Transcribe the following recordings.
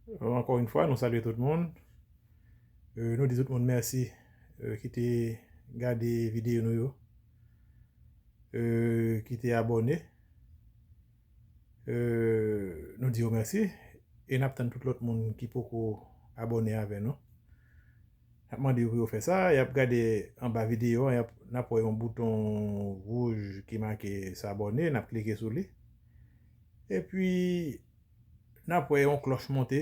Ankò yn fwa nou salye tout moun Nou di tout moun mèsi ki te gade videyo nou yo Ki te abòne Nou di yo mèsi E nap tann tout lòt moun ki poko abòne avè nou Nap mande yo pou yo fè sa Yap gade anba videyo an Nap wè yon bouton wouj ki make s'abonner Nap klike sou li Epi nap wè yon klòch monte,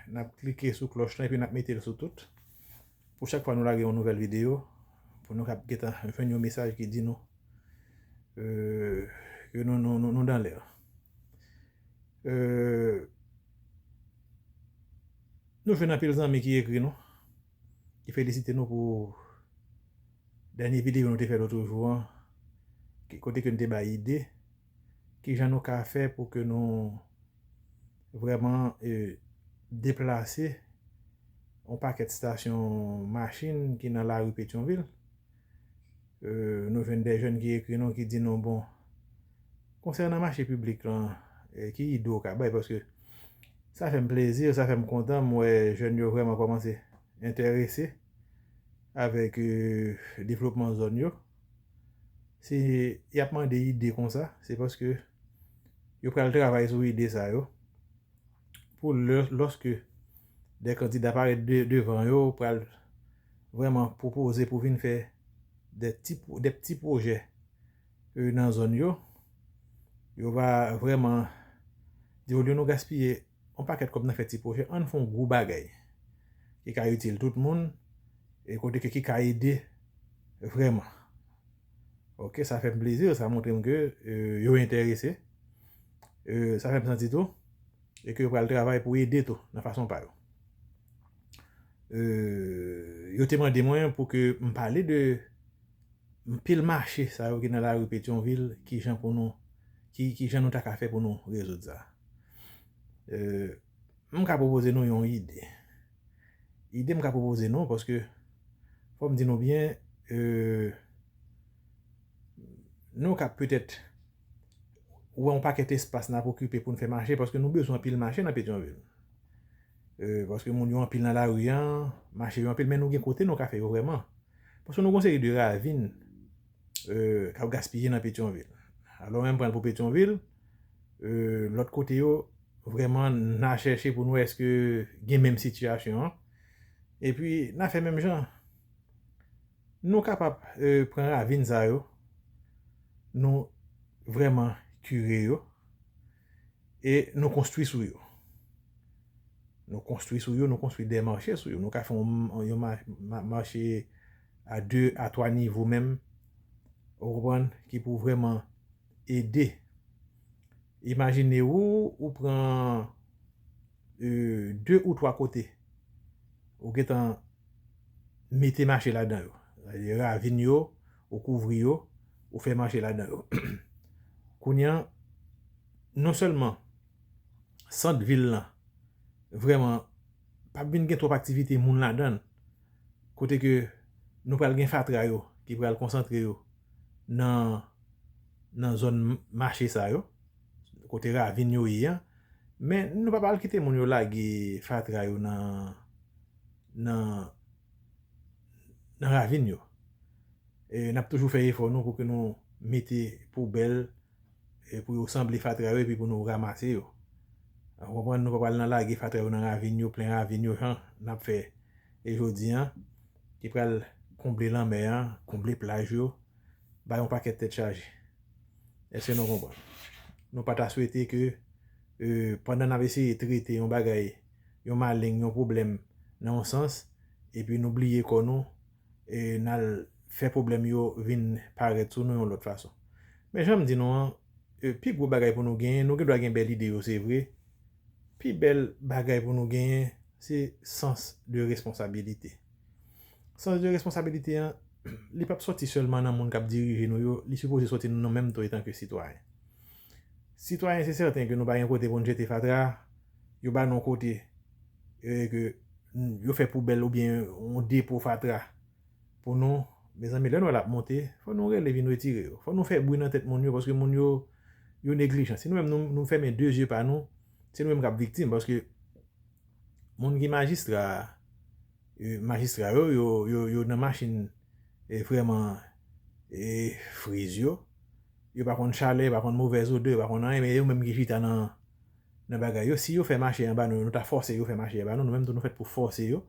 nap klike sou klòch lan epi nap metel sou tout pou chak fwa nou lage yon nouvèl video pou nou kap gentan jwenn yon mesaj ki di nou ke nou dan lè. Nou jwenn anpil zanmi ki ekri nou ki felisite nou pou dènye video nou te fè lotrejou an kote ke nou te bay ide. Ki jan nou ka fè pou ke nou vrèman deplase yon pakèt stasyon machin ki nan lari Petyonvil? Nou jwenn de jèn ki ekri nou ki di nou bon, konsènan mache piblik lan, ki ide ou ka bay? Paske sa fè m plezi, sa fè m kontan, m wè jèn yo vrèman kòmanse enterese avèk devlopman zòn yo. Si y ap mande ide konsa, se paske yo pral travay sou ide sa yo pou lòske de kandida parèt devan yo pral vreman pwopoze pou vin fè de pti pwojè nan zòn yo, yo va vreman di olye nou gaspiye On pakèt kòb nan fè ti pwojè, ann fè on gwo bagay ki ka itil tout moun e kote ke ki ka ede vrèman. Ok, sa fèm plezi, sa montrem ke yo enterese, sa fèm santi tou e ke yo pral travay pou ede tou nan fason pa yo. Yo te mande mwen pou ke m pale de anpil mache sa yo ki nan lari Petyonvil, kijan pou nou, kijan nou ta ka fè pou nou rezoud sa. M ka pwopoze nou yon ide. Ide m ka pwopoze nou paske fò m di nou byen nou ka petèt wè yon pakèt espas n ap okipe pou n fè mache paske nou bezwen anpil mache nan Petyonvil. Paske moun yo anpil nan lari an, mache yo anpil men nou gen kote nou ka fè yo vrèman. Paske nou gen yon seri de ravin k ap gaspiye nan Petyonvil. Alò menm pran l pou Petyonvil. lòt kote yo vrèman na chèche pou nou wè eske gen menm sitiyasyon an epi na fè menm jan nou kapab pran ravin sa yo nou vrèman kire yo e nou konstwi sou yo nou konstwi sou yo nou konstwi de mache sou yo nou ka fè yon mache a 2 a 3 nivo menm ou konprann ki pou vrèman ede. Imajine ou, ou pran 2 ou 3 kote, ou gen tan mete mache ladan yo. Ravin yo, ou kouvri yo, ou fè mache ladan yo. Kounye an, non sèlman sant vil lan vrèman pa vin gen twòp aktivite moun ladan l, kote ke nou pral gen fatra yo ki pral konsantre yo nan nan zòn mache sa yo, kote ravin yo ye an, men nou pa pral kite moun yo lage fatra yo nan nan nan ravin yo. Nap toujou fè efò nou pou ke nou mete poubèl E pou yo sanble fatra yo epi pou nou ramase yo. Ou konprann nou pa pral nan lage fatra yo nan ravin yo, plen ravin yo jan n ap fè e jodi an ki pral konble lanmè an, konble plaj yo, bay yon pakèt tèt chaje. Èske nou konprann? Nou pa ta swete ke pandan n ap eseye trete yon bagay, yon maleng, yon pwoblèm nan yon sans epi nou bliye kò nou, n al fè pwoblèm yo vin parèt sou nou yon lòt fason. Men jan m di nou an, pi gwo bagay pou nou genyen, nou gen dwa gen bèl ide yo se vre, pi bèl bagay pou nou genyen se sans de responsabilite. Sans de responsabilite an, li p ap soti sèlman nan moun k ap dirije nou yo, li sipoze soti nan nou menm tou etanke sitwayen. Sitwayen se sèten ke nou pa gen kote pou nou jete fatra, yo ba nou kote. yo fè poubèl ou byen yon depo fatra pou nou, mezanmi lè nou wè lap monte fò nou rele vin retire yo, fò nou fè bri nan tèt moun yo paske moun yo yo neglijan, si nou menm nou fèmen 2 zye pa nou se nou menm kap viktim paske moun ki majistra majistra yo yo nan machin vreman friz yo yo pa konn chalè, yo pa konn movèz odè, yo pa konn anyen men yo menm ki chita nan nan bagay yo si yo fè mache anba nou nou ta fòse yo fè mache anba nou nou menm tou nou fèt pou fòse yo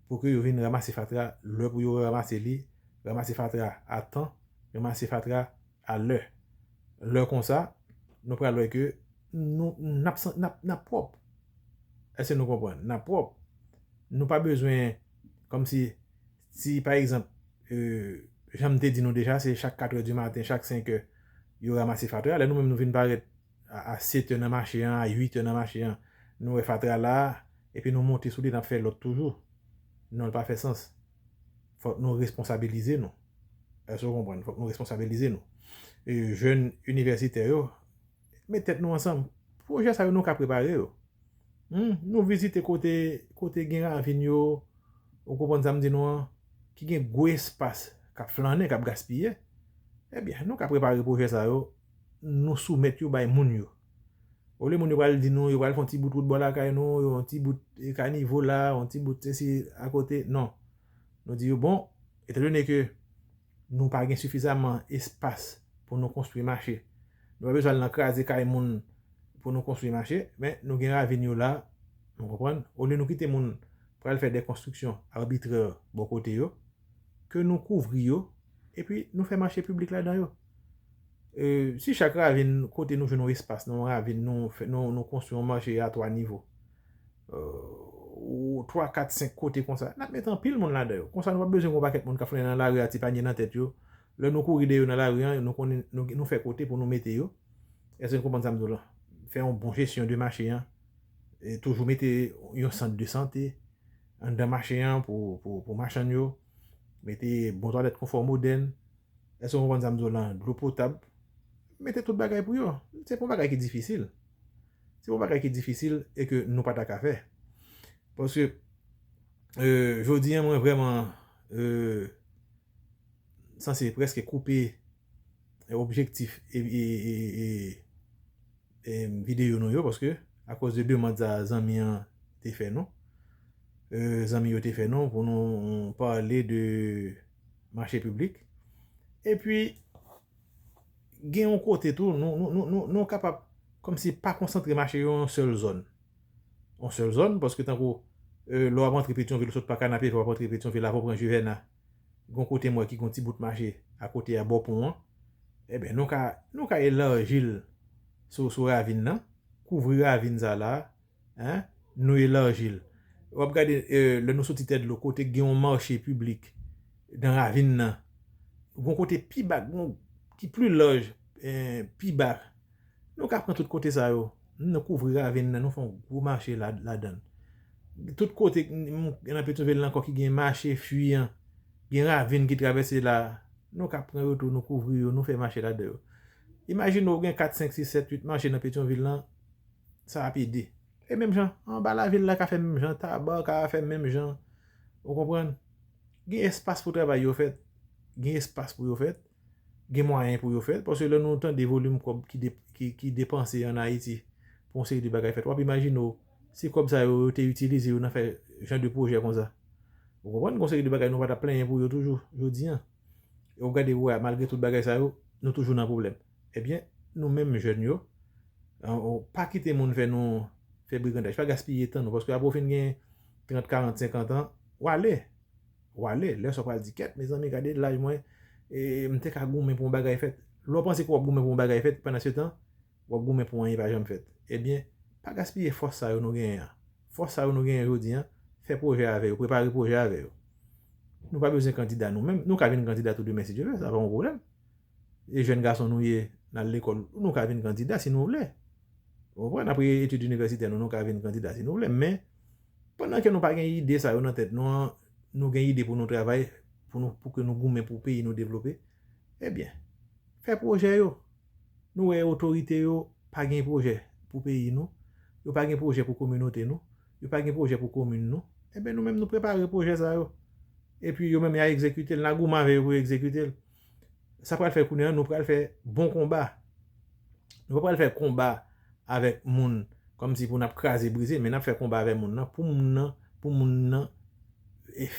pou ke yo vin ramase fatra lè pou yo ramase li ramase fatra a tan ramase fatra a lè lè konsa nou pral wè ke nou nap san nap nap pwòp èske nou konprann nap pwòp nou pa bezwen kòm si si pa egzanp janm te di nou deja se chak katrè di maten chak senkè yo ramase fatra lè nou menm nou vin parèt. A 7 è nan mache an, a 8 è nan mache an, nou wè fatra la, epi nou monte sou li nap fè lòt toujou. Non li pa fè sans. Fòk nou responsabilize nou. Èske ou konprann? Fòk nou responsabilize nou. E jèn inivèsitè yo, met tèt nou ansanm. Pwojè sa yo nou ka prepare yo. Hum, nou vizite kote, kote gen ravin yo, ou konprann sa m di nou an, ki gen gwo espas kap flannen, kap gaspiye. Ebyen, nou ka prepare pwojè sa yo, nou soumèt yo bay moun yo. Olye moun yo pral di nou yo pral fè yon ti bout wout bò lakay nou, yon ti bout kanivo la, yon ti bout sesi akote, non. Nou di yo bon, etandone ke nou pa gen sifizaman espas pou nou konstwi mache, nou pa bezwen al nan kraze kay moun pou nou konstwi mache, men nou gen ravin yo la, nou konprann, olye nou kite moun pral fè de konstriksyon arbitrè bò kote yo, ke nou kouvri yo, epi nou fè mache piblik ladan yo. Si chak ravin kote nou jwenn yon espas nan yon ravin nou konstwi yon manje a 3 nivo, 3, 4, 5 kote konsa, n ap met anpil moun ladan yo. Konsa nou pa bezwen gen yon pakèt moun k ap founen nan lari a ti panye nan tèt yo. Lè nou kouri dèyè yo nan lari an, nou fè kote pou nou mete yo. Èske nou konprann sa m di w la? Fè yon bon jesyon de mache an. Toujou mete yon sant de sante anndan mache an pou machann yo. mete bon twalèt konfò modèn, èske ou konprann sa m di w lan, dlo potab, mete tout bagay pou yo. Se pa yon bagay ki difisil. Se pa yon bagay ki difisil e ke nou pa ta ka fè. Paske, jodi an mwen vreman sanse preske koupe objektif e... Video nou yo paske a koz de demand sa zanmi an te fè nou zanmi yo te fè nou pou nou pale de mache piblik epi gen yon kote tou nou kapab kom si pa konsantre mache yo yon sèl zòn yon sèl zòn paske tankou lè w ap antre petyonvil ou sot pa kanapevè w ap antre petyonvil avan w pran jivèna Gon kote m wè ki gon ti bout mache akote a bò pon an. Eben nou ka nou ka elarji l sou sou ravin nan. Kouvri ravin sa la a. Hein? Nou elarji l. W ap gade lè nou soti tè dlo kote k gen yon mache piblik nan ravin nan. Gon kote pi ba gon ki pli laj pi ba. Nou ka pran tout kote sa yo. Nou kouvri ravin nan, nou fè yon gwo mache ladan l. Tout kote nan Petyonvil lan ankò ki gen mache fwi an, gen ravin ki travèse la, nou ka pran yo tou, nou kouvri yo, nou fè mache ladan yo. Imajine ou gen kat, senk, sis, sèt, uit mache nan Petyonvil lan, sa ap ede. E menm jan, anba lavil la ka fè menm jan, Taba ka fè menm jan. Ou konprann? Gen espas pou travay yo fèt. Gen espas pou yo fèt. gen mwayen pou yo fèl paske lè nou tande volim kòb ki depanse an Ayiti pou yon seri de bagay fèt w ap imajine w si kòb sa yo yo te itilize yo nan fè jan de pwojè konsa ou konprann gen yon seri de bagay nou pa t ap plenyen pou yo toujou jodi an e w ap gade pou wè malgre tout bagay sa yo nou toujou nan pwoblèm ebyen nou menm jèn yo pa kite moun fè nou fè brigandaj pa gaspiye tan nou paske apre w fin gen trant karant senkant an w ale. Wale, lè sa w pral di kèt mezanmi gade laj mwen e m te ka goumen pou yon bagay fèt. Lè w panse ke w ap goumen pou yon bagay fèt pandansetan w ap goumen pou anyen pa janm fèt. Ebyen, pa gaspiye fòs sa yo nou genyen an. Fòs sa yo nou genyen jodi an, fè pwojè avè yo, prepare pwojè avè yo. Nou pa bezwen kandida nou menm, nou ka vin kandida tou demen si Dye vle, sa pa yon pwoblèm. E jèn gason nou ye, n al lekòl, nou ka vin kandida si nou vle. Ou konprann? Apre etid inivèsitè nou, nou ka vin kandida si nou vle men, Pandan ke nou pa gen ide sa yo nan tèt nou an, nou gen ide pou nou travay, pou nou, pou ke nou goumen pou peyi nou devlope, e byen, fè pwojè yo. Nou wè otorite yo pa gen pwojè pou peyi nou, yo pa gen pwojè pou kominote nou, yo pa gen pwojè pou komin nou, e byen nou menm nou prepare pwojè sa yo. E pi yo menm ya egzekite l, na goumen avè yo pou yo egzekite l. sa pral fè kounye an nou pral fè bon konba. Nou pa pral fè konba avèk moun kòm si pou n ap kraze brize men n ap fè konba avèk moun nan pou moun nan pou moun nan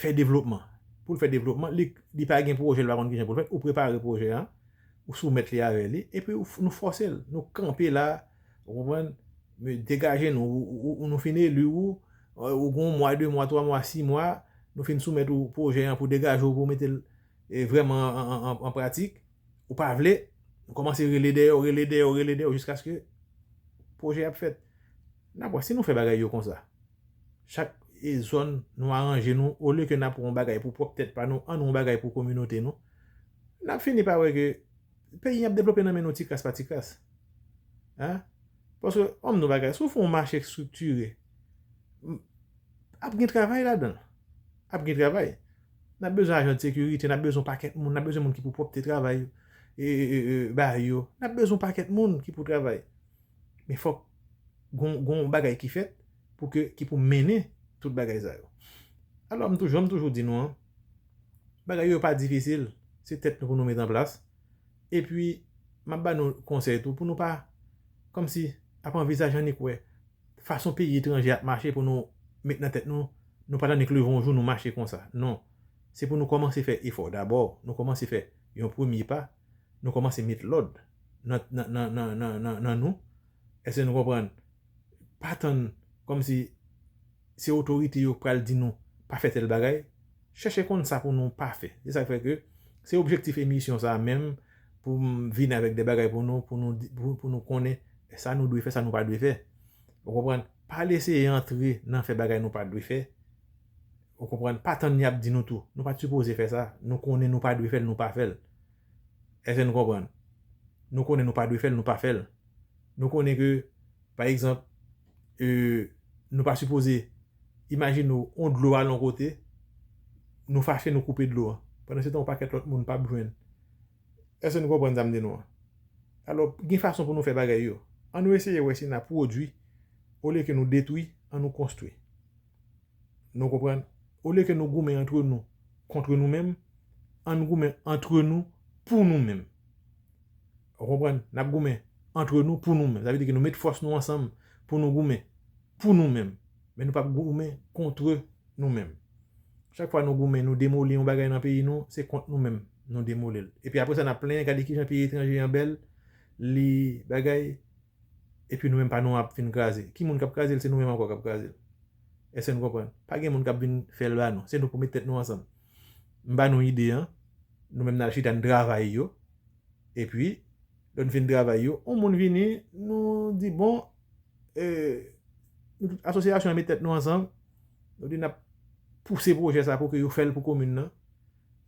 fè devlopman. Pou l fè devlopman li pa gen pwojè li pa konn ki jan pou l fèt ou prepare pwojè an ou soumèt li avè li epi nou fòse l nou kanpe la ou konprann nou degaje nou ou nou fin eli ou ou gen yon mwa de mwa twa mwa si mwa nou fin soumèt ou pwojè an pou degaje w pou w mete l vrèman an pratik, ou pa vle, ou kòmanse rele dèyè w, rele dèyè w, rele dèyè w jiskaske pwojè a ap fèt. N ap wè si nou fè bagay yo konsa. Chak zòn nou aranje nou, olye ke n ap wè yon bagay pou pwòp tèt pa nou, annou yon bagay pou kominote nou. N ap fini pa wè ke peyi an ap devlope nan men nou tikras pa tikras. Paske, banm di nou yon bagay, si w fè yon mache estriktire, ap gen travay ladan l. Ap gen travay. N ap bezwen ajan sekirite, n ap bezwen yon pakèt moun, n ap bezwen moun ki pou pwòpte travay ba yo, n ap bezwen yon pakèt moun ki pou travay. Men fòk gen yon bagay ki fèt pou ke, ki pou mennen tout bagay sa yo. Alò m toujou, jan m toujou di nou an, bagay yo pa difisil, se tèt nou pou nou met an plas. E pi, m ap ba nou konsèy tou pou nou pa, kòm si, ap anvizaje annik wè. fason peyi etranje ap mache pou nou met nan tèt nou, nou pa tande k leve yon jou nou mache konsa. Non. Se pou nou kòmanse fè efò dabò, nou kòmanse fè yon premye pa, nou kòmanse met lòd nan nan nan nan nan nan nan nou. Èske nou konprann? Pa tann kòmsi se otorite yo k pral di nou pa fè tèl bagay. Chèche konn sa pou nou pa fè. Se sa k fè ke se objektif emisyon sa menm pou m vin avèk de bagay pou nou, pou nou, pou nou konnen sa nou dwe fè, sa nou pa dwe fè. Ou konprann? Pa al eseye antre nan fè bagay nou pa dwe fè. Ou konprann? Pa tann y ap di nou tou. Nou pa t sipoze fè sa. Nou konnen nou pa dwe fè l, nou pa fè l. Èske nou konprann? Nou konnen nou pa dwe fè l, nou pa fè l. Nou konnen ke, pa egzanp, nou pa sipoze Imajine w yon dlo al yon kote, nou fache nou koupe dlo an. Pandan se tan yon pakèt lòt moun pap jwenn. Èske nou konprann sa m di nou an? Alò, gen fason pou nou fè bagay yo. An nou eseye wè si n a pwodui olye ke nou detwi, an nou konstwi. Nou konprann? Olye ke nou goumen antre nou kontre nou menm, an n goumen antre nou pou nou menm. Ou konprann? N ap goumen antre nou pou nou menm. Sa vle di ke nou met fòs nou ansanm pou nou goumen. pou nou menm, men nou pap goumen kontre nou menm. Chak fwa nou goumen nou demoli yon bagay nan peyi nou, se kont nou menm nou demoli l. Epi apre sa n ap plenyen gade kijan peyi etranje an bèl, li bagay, epi nou menm pa nou an ap fin kraze. Ki moun k ap kraze l? Se nou menm ankò k ap kraze l. Èske n konprann? Pa gen moun k ap vin fè l ba nou. Se nou pou mete tèt nou ansanm. M ba nou ide an, nou menm n al chita n travay yo, epi lè n fin travay yo, yon moun vini, nou di bon, Asosyasyon an met tèt nou ansanm, nou di n ap pouse pwojè sa pou ke yo fè l pou komin nan,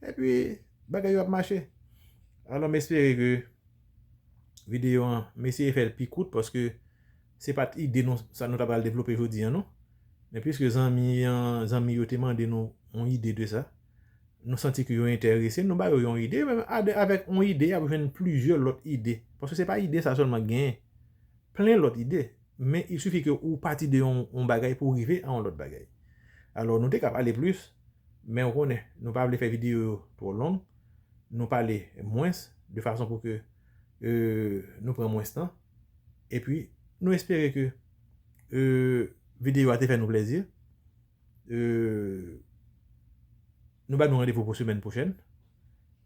epi bagay yo ap mache. Alò m espere ke videyo an, m eseye fè l pi kout paske se pa t ide nou sa nou ta pral devlope jodi an non. Men piske zanmi an, zanmi yo te mande nou yon ide de sa, nou santi ke yo enterese, nou ba yo yon ide, yo menm avèk yon ide y ap jwenn plizyè lòt ide. Paske se pa ide sa sèlman k genyen. plen lòt ide, men il suffit ke ou pati de yon bagay pou rive a yon lòt bagay. Alò nou te ka pale plis, men ou konnen nou pa vle fè videyo yo twò long, nou pale mwens de fason pou ke nou pran mwens tan. Epi nou espere ke videyo a te fè nou plezi. Nou ba nou randevou pou semèn pwochèn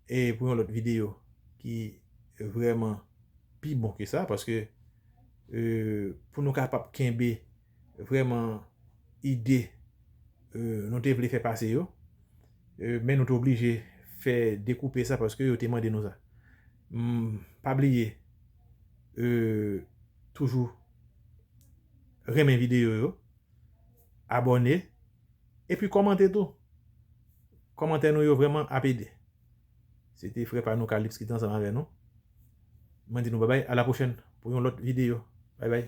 e pou yon lòt videyo ki vrèman pi bon ke sa paske pou nou kapab kenbe vrèman ide nou te vle fè pase yo men nou te oblije fè dekoupe sa paske yo te mande nou sa. Pa bliye toujou renmen videyo yo. Abòne epi kòmante tou. Kòmantè nou yo vrèman ap ede. Se te frè pa nou Calypse ki te ansanm avè nou. Mwen di nou babay a la pwochèn pou yon lòt videyo. Baybay.